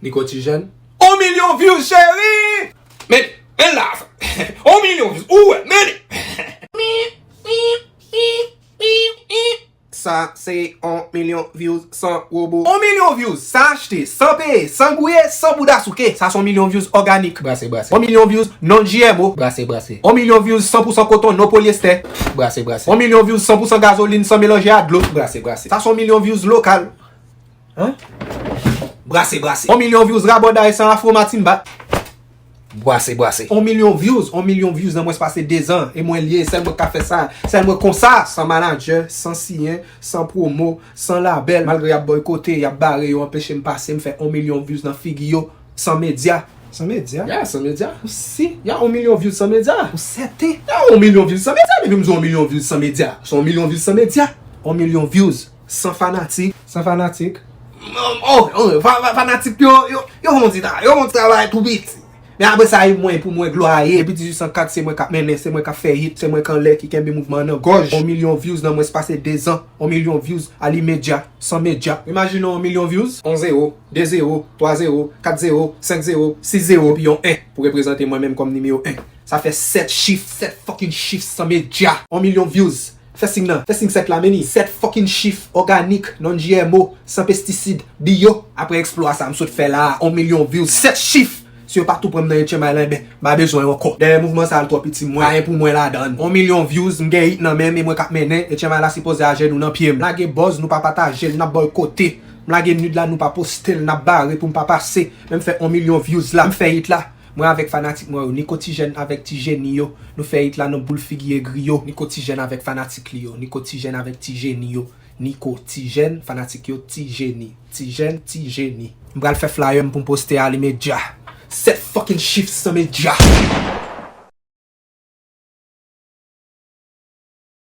Li ko ti jèn. On milyon views cheri! Men men la a sa. On milyon views ou wè men li. Sa se on milyon views san wobo. On milyon views san achte, san peye, san gouye, san bouda souke. Sa son milyon views òganik. Brase brase. On milyon views non GMO. Brase brase. On milyon views san pou san koton non polyester. Brase brase. On milyon views san pou san gazolin san melanje a dlo. Brase brase. Sa son milyon views lokal. Brase brase. On milyon vyouz raboday san afro matimba. Brase brase. On milyon vyouz, on milyon vyouz nan mwens pase 2 zan. E mwen lye, sèl mwen k ka fè sa. Sèl mwen konsa. San manadjè, san siyen, san pwomo, san labèl. Malgre y ap boykote, y ap bare yo, anpeche m pase, m fè on milyon vyouz nan figi yo. San medya. San medya? Ya, san medya. Ou si? Ya on milyon vyouz san medya. Ou sèten? Ya on milyon vyouz san medya. Depi m di on milyon vyouz san medya, se on milyon vyouz san medya. On milyon vyouz. San fanatik. San fanatik. Fanatik yo, yo fon ti travay, yo fon ti travay tou piti. Men apre sa e mwen pou mwen glwa a ye. Depi 1804 se mwen kap mennen, se mwen kap fè hit, se mwen kanlè ki kenbe mouvman an nan gòj. On milyon views nan mwens pase 2 zan. On milyon views a limedya, san medya. Imajine on milyon views. On zewo, de zewo, twa zewo, kat zewo, senk zewo, sis zewo epi yon 1 pou reprezante mwen menm kòm nimewo 1. Sa fè 7 chif, 7 fucking chif san medya. On milyon views Fè sign nan, fè sign 7 la men li, 7 fucking chif, òganik, non GMO, san pestisid, biyo. Aprè eksplwa sa m sot fè la a, 1 milyon views, 7 chif! Si yo pa tou pran m nan yon tchenmay lan enben, m pa bezwen yo ankò. Dèyè mouvman sa a l twò piti mwen, pa gen pou mwen ladan l. 1 milyon views, m gen hit nan men m e mwen k ap mennen, e tchenmay la sipoze a jenou nan pye m. M lage buzz, nou pa pataje l, n ap bòykote. M lage nude la, nou pa poste l, n ap bare pou m pa pase. Men m fè 1 milyon views la, m fè hit la. Mwen avèk fanatik mwen yo Niko Tijèn avèk Ti Jeni yo Nou fè it la nan boul figi egri yo Niko Tijèn avèk fanatik li yo Niko Tijèn avèk Ti Jeni yo Niko Tijèn fanatik yo Ti Jeni Tijèn Ti Jeni. M pral fè flyer m pou m poste a li medya 7 fucking chif san medya.